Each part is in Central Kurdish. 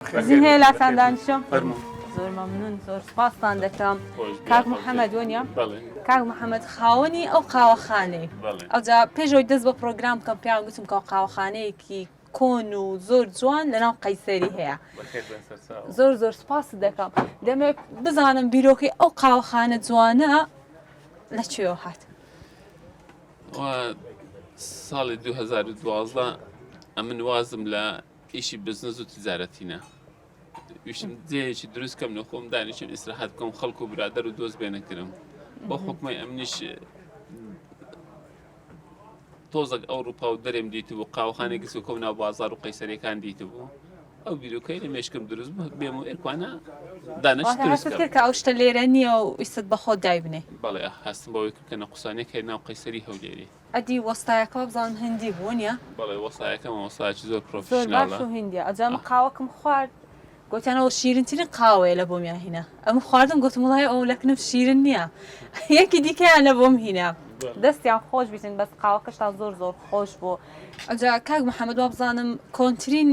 ئیزن هەیە لاتان دانیشم زۆر مەمنون زۆر سپاستان دەکەم کاک محەممەد وەنیە کاک محەممەد خاوەنی ئەو قاوەخانەی ئەوجا پێشەوەی دەست بە پرۆگرام بکەم پیان گوتم کە قاوەخانەیەکی کۆن و زۆر جوان لەناو قەیسەری هەیە زۆر زۆر سپاس دەکەم دەمێک بزانم بیرۆکەی ئەو قاوەخانە جوانە لە کوێوە هات ساڵی 2012 ئەمن وازم لە ئیشی بزنس و تجارەتی نا ویشم جێیەکی دروست کەم لە خۆم دانیشم ئیسراحەت بکەم خەڵک و برادەر و دۆست بێنەکرم بۆ حکومی ئەمنیش تۆزەک ئەوروپا و دەرێم دیت بوو قاوخانێک گس و کۆم ناو بازار و قەیسەرەکان دیت بوو ئەو بیرۆکەی لە مێشکم دروست بوو بێم و ئێرکوانە دانەشتکە ئەو شتە لێرە نییە و ئیست بەخۆ دایبنێ بەڵێ هەستم بەوەی کە نە قوسانێک هەیە ناو قەیسەری هەولێری ئەدی وەستایەکە وابزانم هندی بوو نیە. بەڵێ وەستایەکە مامۆستایەکی زۆر پرۆفیشناڵە. زۆر باش و هندیە ئەوجا من قاوەکم خوارد گۆتیان ئەوە شیرین ترین قاوەیە لە بۆمیان هینا ئەمن خواردم گۆتم وڵای ئەوە لەکنف شیرن نیە یەکی دیکەیان لە بۆم هینا دەستیان خۆش بیتن بەس قاوەکەشتان زۆر زۆر خۆش بۆ ئەوجا کاک محمد وابزانم کۆنترین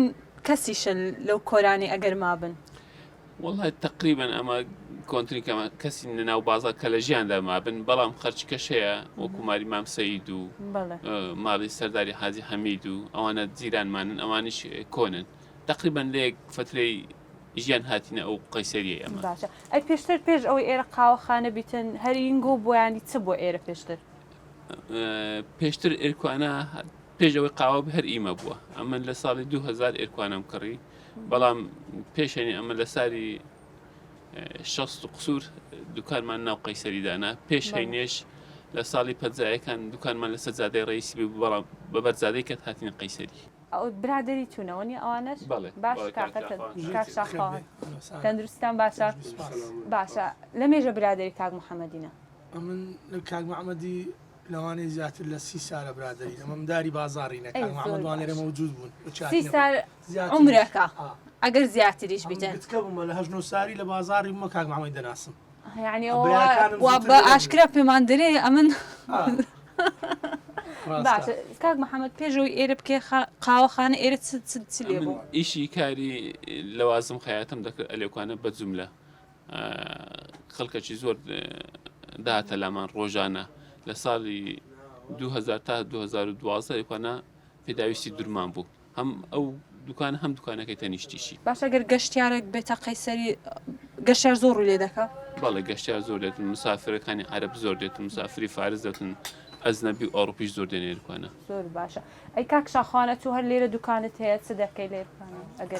کەسیشە لەو کۆرانەی ئەگەر مابن. وەڵا تەقریبەن ئەمە کۆنترین کەمە کەسی نەناو بازار کە لە ژیاندا مابن بەڵام خەرچکەش هەیە وەکو ماری مام سەید و بەڵێ ماڵی سەرداری حاجی حەمید و ئەوانە جیرانمانن ئەوانیش کۆنن تقریبان لێک فترەی ژیان هاتینە ئەو قەیسەریە ئەمە باشە ئەی پێشتر پێش ئەوەی ئێرە قاوەخانە بیتن هەرینگۆ بۆیانی چ بۆ ئێرە پێشتر ئە، پێشتر ئێرکوانە پێش ئەوەی قاوە بە هەر ئیمە بووە ئەمن لە ساڵی 2000 ئێرکوانم کڕی بەڵام پێشێنی ئەمە لە ساری شەست و قسوور دوکانمان ناو قەیسەری دانا پێش هەینێش لە ساڵی پەنجایەکان دوکانمان لەسەر زادەی ڕیسی بوو بەڵام بە بەرزادەی کەت هاتینە قەیسەری برادری چوونەوە نی ئەوانەش باش تەندروستان باشە باشە لە مێژە برادری کاک محەممەدینە ئەمن کاک محەممەدی لەوانەی زیاتر لە سی سالە برادری ئەمەم داری بازاری نەکەمەوانێرە مەوجود بوون عومرەکە ئەگەر زیاتریش بیتن. یەعنی وا بە ئاشکرا پێمان دەرێ ئەمن باشە کاک محەممەد پێشەوەی ئێرە بکێ قاوەخانە ئێرە چ لێ بوو ئیشی کاری لەوازم خەیاتم دەکرد ئەلێکوانە بە جملە خەڵکەکی زۆر داهاتە لامان ڕۆژانە لە ساڵی 2000 تا 2012 ئەلێکوانە پێداویستی درمان بوو هەم ئەو دوکانە هەم دوکانەکەی تەنیشتیشی. باشە گەر گەشتیارێک بێتە قەیسەری گەشتیار زۆر ڕوی لێدەکا؟ بەڵێ گەشتیار زۆر دێتن مسافرەکانی عەرەب زۆر دێتن مسافری فارس دەتن ئەزنەبی و ئەوڕپیش زۆر دێنێ دوکانە. زۆر باشە ئەی کاک شاخوانە تۆ هەر لێرە دوکانت هەیە چ دەکەی لێرە ئەگەر.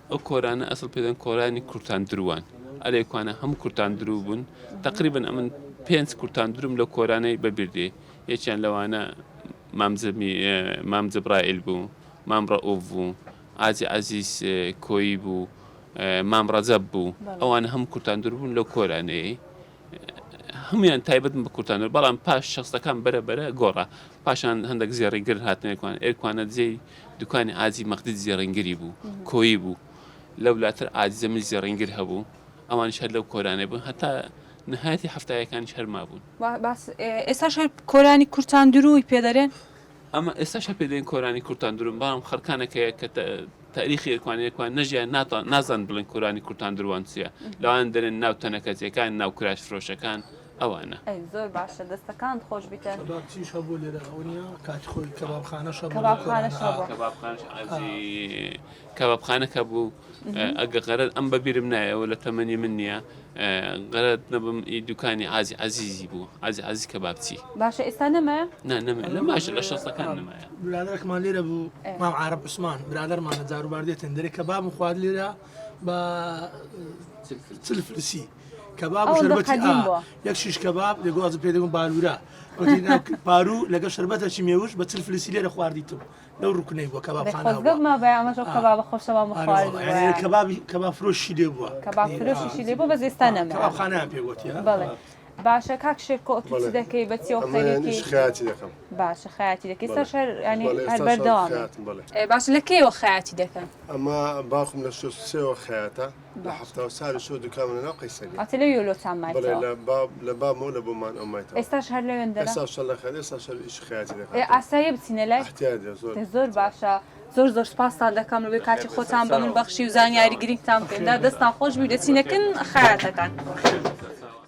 ئەو کۆرانە ئەسڵ پێدەن کۆرانی کورتان دروان ئەلێ کوانە هەموو کورتان درو بوون تەقریبن ئەمن پێنج کورتان دروم لە کۆرانەی بەبیردێ یەکیان لەوانە مام زەمی مام زەبرائیل بوو مام ڕەئوف بوو ئاجی عەزیز کۆیی بوو مام ڕەجەب بوو ئەوانە هەموو کورتان دروون لەو کۆرانەیەی هەموویان تایبەتن بە کورتانۆر، بەڵام پاش شەستەکان بەرە بەرە گۆڕا، پاشان هەندەک زێڕی گر هاتنە ئێرکوانە، ئێرکوانە جێی دوکانی عاجی مەقدید زێڕینگری بوو، کۆیی بوو، لەو لاتر عاجی جەمیل زێڕینگر هەبوو، ئەوانیش هەر لەو کۆرانەی بوون، هەتا نەهایەتی حەفتایەکانیش هەر مابوون. ئێستاش هەر کۆرانی کورتاندرووی پێ دەرێن؟ ئەمە ئێستاش هەر پێ دەین کۆرانی کورتان دروون بەڵام خەرکانێک هەیە کە تاریخی ئێرکوانی ئێرکوان نەژیان ناتان نازان بڵێن کۆرانی کورتان دروان چیە لەوان دەرێن ناو تەنەکەتیەکان ناو کراش فرۆشەکان ئەوانە زۆر باشە دەستەکان خۆش بیتن چیش هەبوو لێرە ئەوەنیا کات خۆی کەبابخانە شەبابخانە کەبابخانەکە بوو ئەگە غەرت ئەم بە بیرم نایە و لە تەمەنی من نییە غەرت نەبم ئی دوکانی عازی عەزیزی بوو عازی عەزیز کەبابچی باشە ئێستا نەمایە نا نەمێ لە ماش لە شەستەکان نەمایە برادەرەکمان لێرە بوو مام عارەب عوسمان برادەرمانە جاروبار دێتن دەرێ کەباب و خوارد لێرە بە چل فلسی کەباب و ئەوەندە شەربەتی قەدیم ئا بووە. یەک شیش کەباب لە گوازم پێ دەگوم بالورە وتی نا، پارو لەگە شەربەتەکی مێوش بە چل فلسی لێرە خواردیتم لەو ڕوکنەی بووە کەباب خانەیان پێ گوتیە باشە کاک شێرکۆ دەکەی بە باشە خیاتی دەکەی سەر شەر بەردەوام باش لە کێوە خیاتی دەکەن ئەمە باخم لە شوێوە خیاتە لە حەفتا و چار شۆ دوکانم لە ناو قەیسەریە. ئەتە لەویەوە لۆتان مایتەوە؟ بەڵێ لە باب لە بابمەوە لە بۆمان ئەو مایتەوە. ئێستاش هەر لەوێن دەنا؟ ئێستاش شەر لە خەیەت ئێستاش شەر ئیشی خەیاتی دەکات. ئێ ئاساییە بچینە لای؟ ئەحتیاج دێ زۆر. دە زۆر باشە. زۆر زۆر سپاستان دەکەم بە بێ کاتی خۆتان بە من بەخشی و زانیاری گرینگتان پێم دا. دەستتان خۆش بی و دەچینە کن خەیاتەکان.